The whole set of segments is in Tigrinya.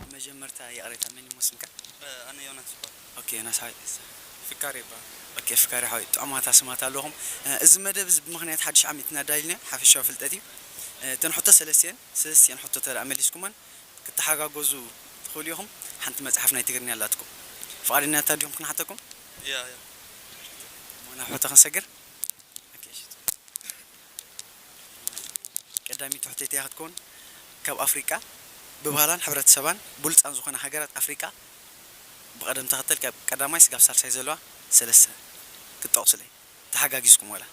ብመጀመርታ ይቅሬታ መን እሞ ስምካ። ኣነ ዮናስ ይባሃል። ኦኬ ዮናስ ሓወይ ንስኻ? ፍካሬ ይባሃል። ኦኬ ፍካሬ ሓወይ ጥዑማት ኣስማት ኣለኹም። እዚ መደብ እዚ ብምኽንያት ሓድሽ ዓመት ኢና ኣዳሊናዮ ሓፈሻዊ ፍልጠት እዩ። እተን ሕቶ ሰለስተ እየን ሰለስቲኤን ሕቶ ተደኣ መሊስኩመን ክትሓጋገዙ ትኽእሉ ኢኹም። ሓንቲ መጽሓፍ ናይ ትግርኛ ኣላትኩም ፍቃደኛታት ዲኹም ክንሓተኩም? እያ እያ። እሞ ናብ ሕቶ ክንሰግር? ኦኬ እሺ ጽቡቅ። ቀዳሚት ትሕተይቲ እያ ክትከውን ካብ ኣፍሪቃ ብባህላን ሕብረተሰባን ቡልጻን ዝኾና ሃገራት ኣፍሪቃ ብቀደም ተኸተል ካብ ቀዳማይ ስጋብ ሳልሳይ ዘለዋ ሰለስተ ክትጠቅሱለይ ተሓጋጊዝኩም ወላ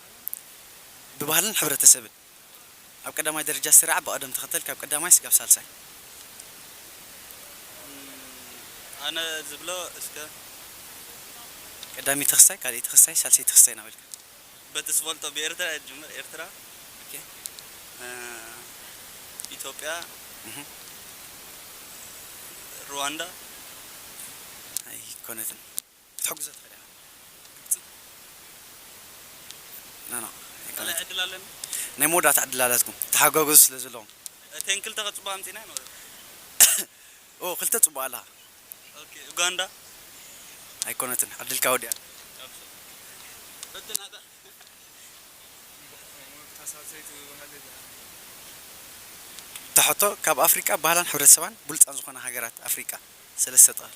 ብባህልን ሕብረተሰብን ኣብ ቀዳማይ ደረጃ ዝስራዓ ብቀደም ተኸተል ካብ ቀዳማይ ስጋብ ሳልሳይ ኣነ ዝብሎ እስከ። ቀዳመይቲ ክስታይ ካልኣይቲ ክስታይ ሳልሰይቲ ክስታይ ናበልካ። በቲ ትፈልጦ ብኤርትራ እየ ዝጅምር ኤርትራ ኦኬ ኢትዮጵያ ሩዋንዳ ኣይኮነትን ክትሕግዞ ትኽእል ኢኻ ግብጺ ኖ ኖ ካልኣይ ኣይኮነትን ዕድል ኣለኒ ናይ መወዳእታ ዕድል ኣላትኩም ትሓጋገዙ ስለ ዘለኹም እተን ክልተ ከ ጽቡቕ ኣምጺእናዮ ማለት እዩ ኦ ክልተ ጽቡቅ ኣለኻ። ኦኬ ኡጋንዳ ኣይኮነትን ዓድልካ ወዲኣ ኣላ። በቲ ናታ እታ ሕቶ ካብ ኣፍሪቃ ባህላን ሕብረተሰባን ብሉጻን ዝኾና ሃገራት ኣፍሪቃ ሰለስተ ጥቐስ።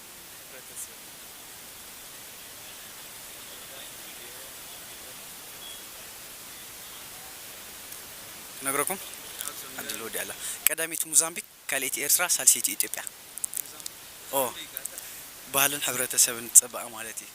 እዚ ሕብረተሰብ እዚ ብኸመይ ገይርና ንዕባይ ክንገይሮ ንኽእል ንኽእል ክነግረኩም ዕድል ወዲኣ ኣላ ቀዳመይቲ ሙዛምቢክ ካልኤይቲ ኤርትራ ሳልሰይቲ ኢትዮጵያ ኦህ ባህልን ሕብረተሰብን ጸባቀ ማለት እዪ።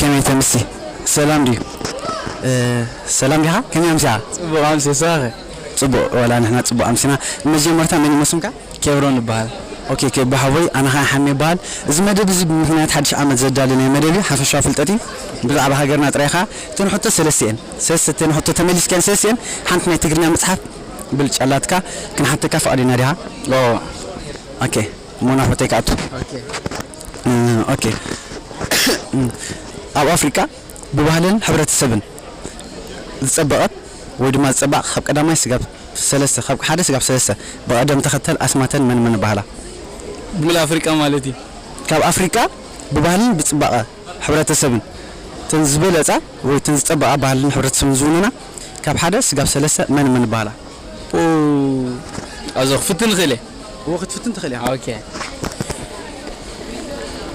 ከመይ ተምሲ ሰላም ድዩ ሰላም ዲኻ ከመይ ኣምሲኻ። ጽቡቅ ኣምሲ ንስኻ ከ። ጽቡቅ ዋላ ንሕና ጽቡቅ ኣምሲና ንመጀመርታ መን ኢሞ ስምካ። ኬብሮን እብሃል። ኦኬ ኬቦ ሓወይ ኣነ ከኣ ሓሜ እብሃል እዚ መደብ እዚ ብምኽንያት ሓድሽ ዓመት ዘዳለናዮ መደብ እዩ ሓፈሻዊ ፍልጠት እዩ ብዛዕባ ሃገርና ጥራይ ከኣ እተን ሕቶ ሰለስተ እየን ሰለስተ እተን ሕቶ ተመሊስካየን ሰለስቲኤን ሓንቲ ናይ ትግርኛ መጽሓፍ ብልጫ ኣላትካ ክንሓተካ ፍቃደኛ ዲኻ? ኦኬ። እሞ ናፍቖተይ ክኣቱ ኣብ ኣፍሪቃ ብባህልን ሕብረተሰብን ዝጸበቐት ወይ ድማ ዝጸባቕ ካብ ቀዳማይ ስጋብ ሰለስተ ካብ ሓደ ስጋብ ሰለስተ ብቐደም ተኸተል ኣስማተን መን መን ይበሃላ? ብምልእ ኣፍሪቃ ማለት እዩ። ካብ ኣፍሪቃ ብባህልን ብጽባቐ ሕብረተሰብን እተን ዝበለጻ ወይ እተን ዝጸበቓ ባህልን ሕብረተሰብን ዝውንና ካብ ሓደ ስጋብ ሰለስተ መን መን ይበሃላ? ፖው ኣዞ ክፍትን እኽእል እየ። እወ ክትፍትን ትኽእል ኢኻ። ኦኬ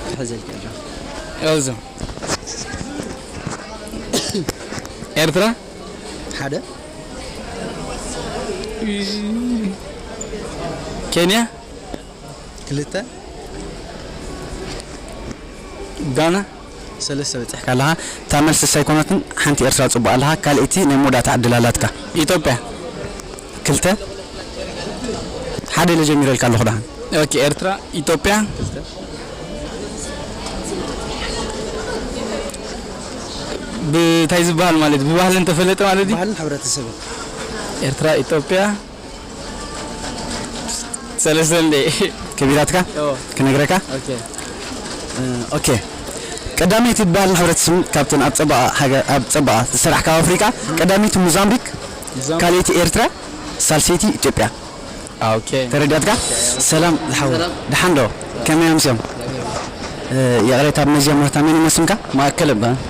ክትሕዘልኪ እያ እዛ። ኤልዞ ኤርትራ ሓደ ኬንያ ክልተ ጋና ሰለስተ በጺሕካ ኣለኻ እታ መልስ ንሳ ኣይኮነትን ሓንቲ ኤርትራ ጽቡቅ ኣለኻ ካልኣይቲ ናይ መወዳእታ ዕድል ኣላትካ። ኢትዮጵያ ክልተ ሓደ ኢለ ጀሚረልካ ኣለኹ ደሓን። ኦኬ ኤርትራ ኢትዮጵያ ክልተ ብታይ ዝብሃል ማለት ብባህልን ተፈለጠ ማለት ድዩ? ባህልን ሕብረተሰብን። ኤርትራ ኢትዮጵያ። ሰለስተ እንድዒ ከቢዳትካ ክነግረካ ኦኬ ቀዳመይቲ ትበሃል ማሕበረተስብ ካብተን ኣብ ጸባቃ ሃገር ኣብ ጸባቃ ዝሰራሕካ ኣብ ኣፍሪቃ ቀዳመይቲ ሙዛምቢክ ካልኤይቲ ኤርትራ ሳልሰይቲ ኢትዮጵያ ተረዲኣትካ ሰላም ዝሓወይ ደሓን ዶ ከመይ ኣምስዮም ይቕሬታ ብመጀመርታ መን ይመስምካ ማእከለ እባል።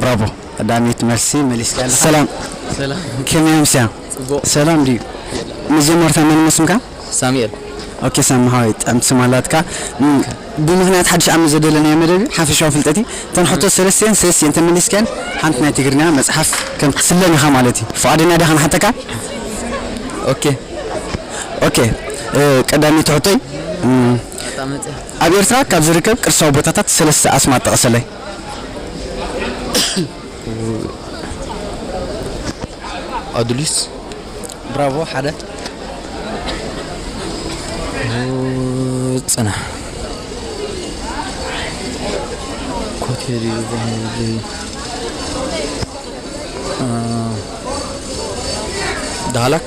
ብራቮ ቀዳመይቲ መልሲ መሊስካያ ኣለኻ። ሰላም ሰላም ከመይ ኣምስያ ጽቡቅ ሰላም ድዩ መጀመርታ መን እሞ ስምካ? ሳሙኤል። ኦኬ ሳሚ ሓወይ ጥዕምቲ ስም ኣላትካ ብምኽንያት ሓድሽ ዓመት ዘደለናዮ መደብ እዩ ሓፈሻዊ ፍልጠት እዩ እተን ሕቶ ሰለስቲኤን ሰለስቲኤን ተመሊስካየን ሓንቲ ናይ ትግርኛ መጽሓፍ ከም ትስለም ኢኻ ማለት እዩ ፍቓደኛ ዲኻ ክንሓተካ ኦኬ ኦኬ ቀዳመይቲ ሕቶይ ኣታ መጽያ ኣብ ኤርትራ ካብ ዝርከብ ቅርሳዊ ቦታታት ሰለስተ ኣስማት ጥቐሰለይ። ኣዱሊስ ብራቮ ሓደ ፅና ኮቴሪ ባህሊ ዳህላክ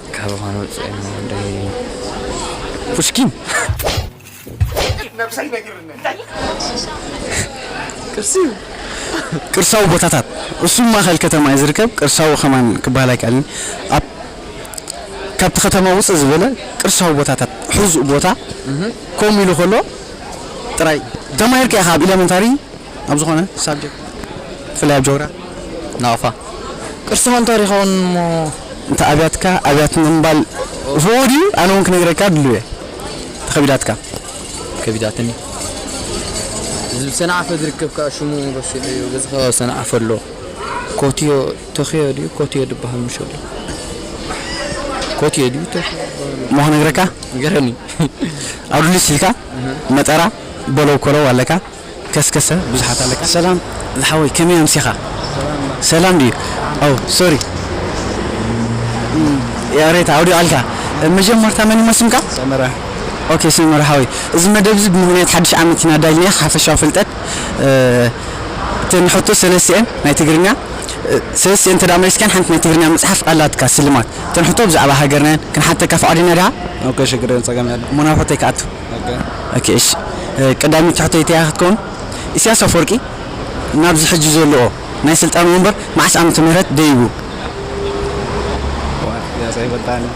ካብ ኻን ወፃኢ ፑሽኪን ቅርሳዊ ቦታታት እሱብ ማእኸል ከተማ እዩ ዝርከብ። ቅርሳዊ ከማን ክበሃል ኣይከኣልን እዩ። ኣብ ካብቲ ከተማ ውፅእ ዝበለ ቅርሳዊ ቦታታት ሕዙእ ቦታ ከምኡ ኢሉ ከሎ ጥራይ ተማሂርካ ኢኻ ኣብ ኢለመንታሪ ኣብ ዝኾነ ሳብጀክት ብፍላይ ኣብ ጆግራፊ ናቕፋ ቅርስኻን ታሪኻውን እሞ እንተ ኣብያትካ ኣብያት ምባል ፍቑድ እዩ ኣነ ውን ክነግረካ ድሉው እየ ተኸቢዳትካ። ከቢዳትኒ እዚ ብ ሰንዓፈ ዝርከብ ከኣ ሽሙ ረሲዑ እዮ በዚ ከባቢ ሰንዓፈ ኣሎ ኮትዮ ቶክዮ ድዩ ኮትዮ ድበሃል ምሸሎ ኮትዮ ድዩ ቶክዮ ድበሃል እሞ ክነግረካ ንገረኒ። ኣብ ዱሊስ ኢልካ መጠራ በለው ኮለው ኣለካ ከስከሰ ብዙሓት ኣለካ። ሰላም ዝሓወይ ከመይ ኣምሲኻ ሰላም ድዩ ኣው ሶሪ ያሬት ኣውዲቓልካ መጀመርታ መን እሞ ስምካ? ሰመረ ኦኬ ሰመረ ሓወይ እዚ መደብ እዚ ብምኽንያት ሓድሽ ዓመት ኢና ኣዳሊናዮ ሓፈሻዊ ፍልጠት እተን ሕቶ ሰለስተ እየን ናይ ትግርኛ ሰለስተ እየን እንተ መሊስካን ሓንቲ ናይ ትግርኛ መጽሓፍ ኣላትካ ስልማት እተን ሕቶ ብዛዕባ ሃገርና እየን ክንሓተካ ፍቓደኛ ዲኻ? ኦኬ ሽግር የለን ጸገም የለን እሞ ናብ ሕቶይ ክኣቱ ነጋ። ኦኬ እሺ ቀዳሚት ሕቶይ እታይ እያ ክትከውን ኢስያስ ኣፎርቂ ናብዚ ሕጂ ዘልኦ ናይ ስልጣን ወንበር መዓስ ዓመተ ምህረት ደይቡ? እዋይ እዚኣስ ኣይፈልጣን እየ።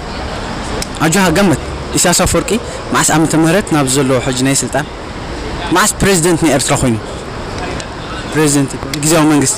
ኣጆኻ ገምት ኢስያስ ኣፎርቂ መዓስ ዓመተ ምህረት ናብዚ ዘልኦ ሕጂ ናይ ስልጣን መዓስ ፕረዚደንት ናይ ኤርትራ ኮይኑ ፕረዚደንት ኮይኑ ግዝያዊ መንግስቲ?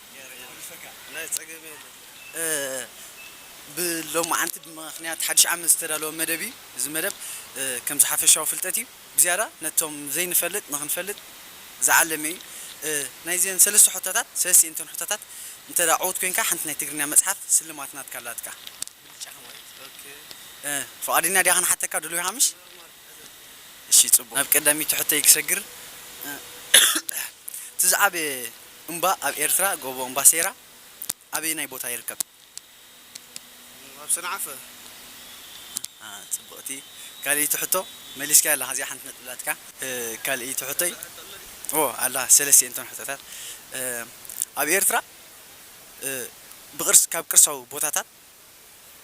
ብሎማዓንቲ ብምኽንያት ሓድሽ ዓመት ዝተዳለወ መደብ እዩ። እዚ መደብ ከምዚ ሓፈሻዊ ፍልጠት እዩ። ብዝያዳ ነቶም ዘይንፈልጥ ንኽንፈልጥ ዝዓለመ እዩ። ናይዘን ሰለስተ ሕቶታት ሰለስቲኤን እተን ሕቶታት እንተ ዕውት ኮይንካ ሓንቲ ናይ ትግርኛ መጽሓፍ ስልማት ናትካ ኣላትካ። ብልጫኻ ማለት እዩ። ፍቓደኛ ዲኻ ክንሓተካ ድሉው ኢኻ ምሽ? እሺ ጽቡቅ ናብ ቀዳሚቱ ሕቶይ ክሰግር እቲ ዝዓበየ እምባ ኣብ ኤርትራ ጎቦ እምባሴራ ኣበየናይ ቦታ ይርከብ? ኣብ ሰንዓፈ። ጽብቅቲ ካልኢቱ ሕቶ መሊስካያ ኣለኻ እዚኣ ሓንቲ ነጥቢ ኣላትካ። ካልኢቱ ሕቶይ ኦ ኣላ ሰለስቲኤንቶን ሕቶታት ኣብ ኤርትራ ብቅርስ ካብ ቅርሳዊ ቦታታት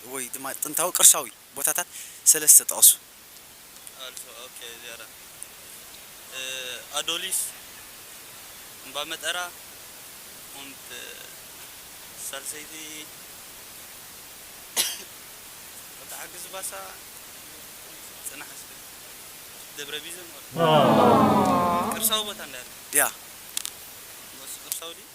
ወይ ድማ ጥንታዊ ቅርሳዊ ቦታታት ሰለስተ ጥቐሱ። ኣልፋ ኦኬ እዚኣራ ኣዶሊስ እምባ መጠራ ኡንድ ሳልሰይቲ ኦታ ሓቂ ዝባሳ ጽናሕ እስከ ደብረ ቢዘን ኦር ቅርሳዊ ቦታ እንዳር። ያ። እምባሲ ቅርሳዊ ድዩ?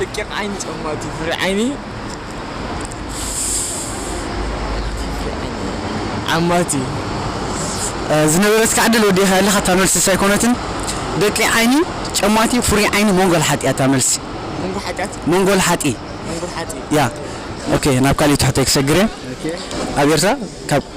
ደቂቅ ዓይኒ ጸማቱ ፍረ ዓይኒ ዓማቱ ዝነበረትካ ዕድል ወዲእካ ኣለካ እታ መልሲ እሳ ኣይኮነትን ደቂቅ ዓይኒ ጨማቲ ፍሩይ ዓይኒ ሞንጎል ሓጢ እያ እታ መልሲ መንጎ ሓጢኣት ሞንጎል ሓጢ መንጎ ሓጢ እያ ኦኬ ናብ ካሊእ ትሕቶይ ክሰግር እየ ኣብ ኤርትራ ካብ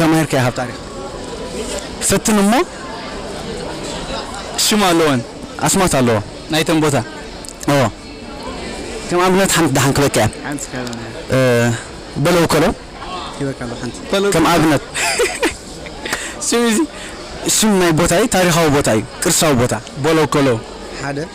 ተማሂርካያ ካብ ታሪክ ፈትን እሞ ሽም ኣለወን ኣስማት ኣለዎ ናይተን ቦታ እወ ከም ኣብነት ሓንቲ ደሓን ክበካ እያ ሓንቲ ካበን በለው ከለው ክበካ ኣሎ ሓንቲ በለው ከም ኣብነት ሽም እዚ ሽም ናይ ቦታ እዩ ታሪካዊ ቦታ እዩ ቅርሳዊ ቦታ በለው ከለው ሓደ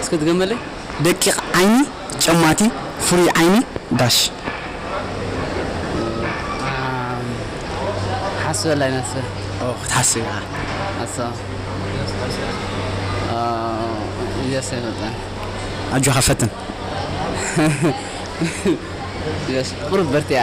እስከ ድገመለይ ደቂቅ ዓይኒ ጨማቲ ፍሩይ ዓይኒ ዳሽ። ክሓስበላ ኢና እስከ። ኦው ክትሓስብ ኢኻ። ኣሰ ኢልያስ ኣይፈልጣን። ኣጆኻ ፈትን። ኢልያስ ቁሩብ በርቲዓ።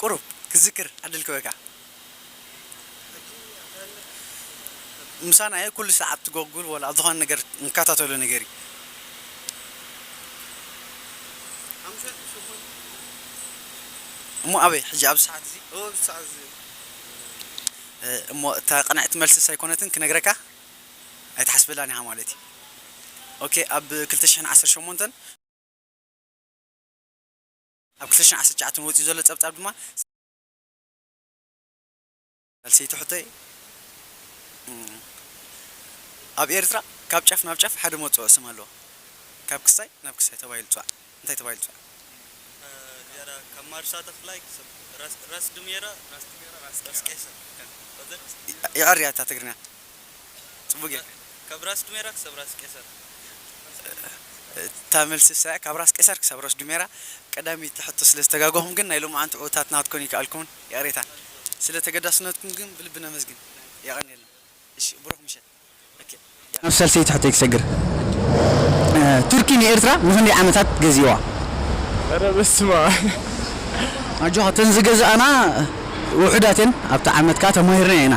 ቁሩብ ክትዝክር ዕድል ክህበካ። ሕጂ ኣጋንንቲ ምሳና እየ ኩሉ ሳዕ ኣብቲ ጎጉል ወላ ኣብ ዝኾነ ነገር ንካታተሎ ነገር እዩ። ሓሙሻት ሸሞንተ ቁሩብ። እሞ ኣበይ ሕጂ ኣብዚ ሳዓት እዚ? እወ ኣብዚ ሳዓት እዚ እዮም። እሞ እታ ቅንዕቲ መልስስ ኣይኮነትን ክነግረካ ኣይትሓስበላን ኢኻ ማለት እዩ። ኦኬ ኣብ ክልተ ሽሕን ዓሰርተ ሸሞንተን። ኣብ ክሰሽን ዓሰርተ ትሽዓተ ወጺኡ ዘሎ ጸብጻብ ድማ፣ ሳልሰይቲ ሕቶይ፣ ኣብ ኤርትራ ካብ ጫፍ ናብ ጫፍ ሓደ መውጽኦ ስም ኣለዎ። ካብ ክሳይ ናብ ክሳይ ተባሂሉ ዝጽዋዕ እንታይ ተባሂሉ ይጽዋዕ? ጌራ ካብ ማርሻ ተኽላይ ክሳብ ራስ ድሜራ፣ ራስ ቄሰ፣ ወዘተ። የዐርያ እታ ትግርኛ። ጽቡቅ ጌርካ ካብ ራስ ዱሜራ ክሳብ ራስ ቄሳር። እታ መልሲ ንሳያ ካብ ራስ ቄሳር ክሳብ ራስ ዱሜራ። ቀዳመይቲ ሕቶ ስለ ዝተጋጓኹም ግን ናይ ሎምዓንቲ ዕውታት ናትኮን ኣይከኣልኩምን ይቅሬታ። ስለ ተገዳስነትኩም ግን ብልቢ ነመስግን። የቀንየልና እሺ ብሩኽ ምሸት። ኦኬ ናብ ሳልሰይቲ ሕቶይ ክሰግር ቱርኪ ንኤርትራ ንኽንደይ ዓመታት ገዚእዋ? እረ በስመኣብ። ኣጆኻ እተን ዝገዛእና ውሑዳት እየን ኣብቲ ዓመት ከኣ ተማሂርናዮ ኢና።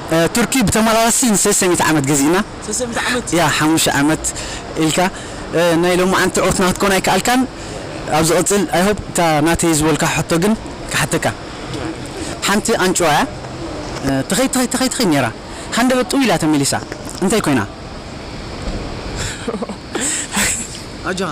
ቱርኪ ብተማላላሲ ን ሰለስተ ሚእቲ ዓመት ገዚእና ሰለስተ ሚእቲ ዓመት እያ ሓሙሽተ ዓመት ኢልካ ናይ ሎማዓንቲ ዑርትና ክትኮን ኣይካኣልካን ኣብ ዝቅጽል i hope እታ ናተይ ዝበልካ ሕቶ ግን ክሓተካ ሓንቲ ኣንጭዋ እያ ትኸይድ ትኸይድ ትኸይድ ትኸይድ ኔራ ሃንደበት ጥው ኢላ ተመሊሳ እንታይ ኮይና ኣጆኻ።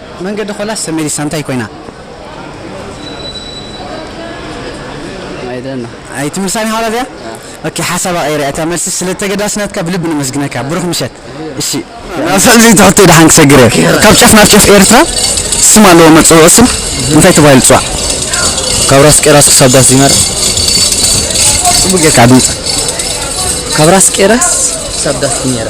መንገዲ ኮላስ ተመሊሳ እንታይ ኮይና? ኣይትምልሳን ኢካ ዋላ እዚኣ ኦኬ ሓሳባ ቀይረ እያ እታ መልሲ ስለ ተገዳስነትካ ብልቢ ነመስግነካ ብሩክ ምሸት እሺ ናብ ሰዕብቲ ትሕቶይ ደሓን ክሰግር እየ ካብ ጫፍ ናብ ጫፍ ኤርትራ ስም ኣለዎ መጸውዒ ስም እንታይ ተባሂሉ ይጽዋዕ ካብ ራስ ቄራስ ክሳብ ዳስ ዚመራ ጽቡቅ ጌርካ ኣድሚጻ ካብ ራስ ቄራስ ክሳብ ዳስ ዚመራ።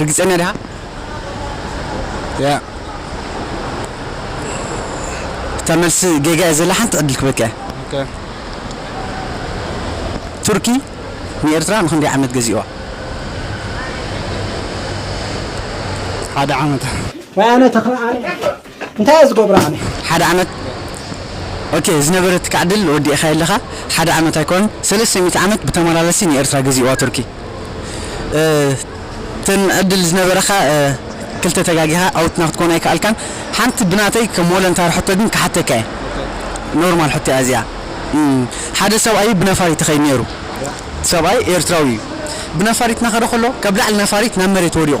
ርግጸኛ ዲኻ? ያእ እታ መልሲ ጌጋ እያ ዘላ ሓንቲ ዕድል ክበካ እያ። ኦኬ። ቱርኪ ንኤርትራ ንኽንደይ ዓመት ገዚእዋ? ሓደ ዓመት። ኣነ ተኽለ ኣርኣያ እንታይ እየ ዝገብሮ ኣነ? ሓደ ዓመት ኦኬ ዝነበረ ትካዕ ድል ወዲእኻዮ ኣለኻ ሓደ ዓመት ኣይኮነን ሰለስተ ሚእቲ ዓመት ብተመላለስቲ ንኤርትራ ገዚእዋ ቱርኪ እተን ዕድል ዝነበረኻ ክልተ ተጋጊኻ ኣውትና ክትኮን ኣይከኣልካን ሓንቲ ብናተይ ከም ወለንታሪ ሕቶ ግን ክሓተካ እየ ኖርማል ሕቶ እያ እዚኣ ሓደ ሰብኣይ እዩ ብነፋሪት ይኸይድ ኔሩ ሰብኣይ ኤርትራዊ እዩ ብነፋሪት ናኸደ ከሎ ካብ ላዕሊ ነፋሪት ናብ መሬት ወዲቑ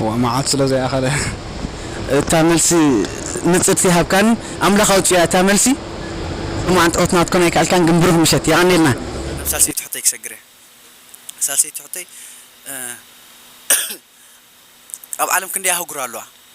እዋእ መዓት ስለ ዘይኣኸለ። እታ መልሲ ንጽርቲ ሃብካኒ ኣምላኽ ኣውጽያ እታ መልሲ ጽሙእ ኣንጠውት ናትኮን ኣይከኣልካን ግን ብሩኽ ምሸት የቐንየልና። ናብ ሳልሰይቲ ሕቶይ ክሰግር እየ ሳልሰይቲ ሕቶይ ኣብ ዓለም ክንደይ ኣህጉር ኣለዋ?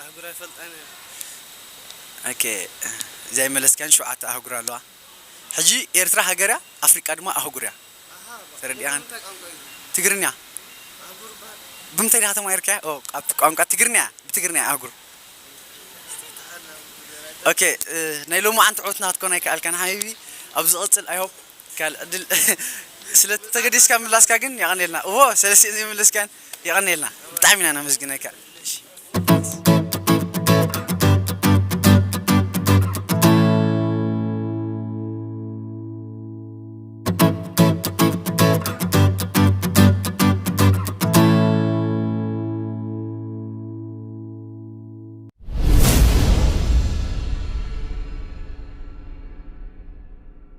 ኣህጉር ኣይፈልጣን እያ ኦኬ እዚኣ ኣይመለስካያን ሸውዓተ ኣህጉር ኣለዋ ሕጂ ኤርትራ ሃገር እያ ኣፍሪቃ ድማ ኣህጉር እያ ተረዲኣኒ ትግርኛ ብምንታይ ዲኻ ተማሂርካያ ኦ ኣብ ቋንቋ ትግርኛ እያ ብትግርኛ እያ ኣህጉር ኦኬ ናይ ሎምዓንቲ ዑት ናትኮን ኣይከኣልካን ሓቢቢ ኣብ ዝቕጽል ኣይ ሆፕ ትካል ዕድል ስለ ተገዲስካ ምላስካ ግን የቀኔልና። እዎ ሰለስቲኤን ዘይምለስካየን የቀኔልና ብጣዕሚ ኢና ነመስግነካ እሺ።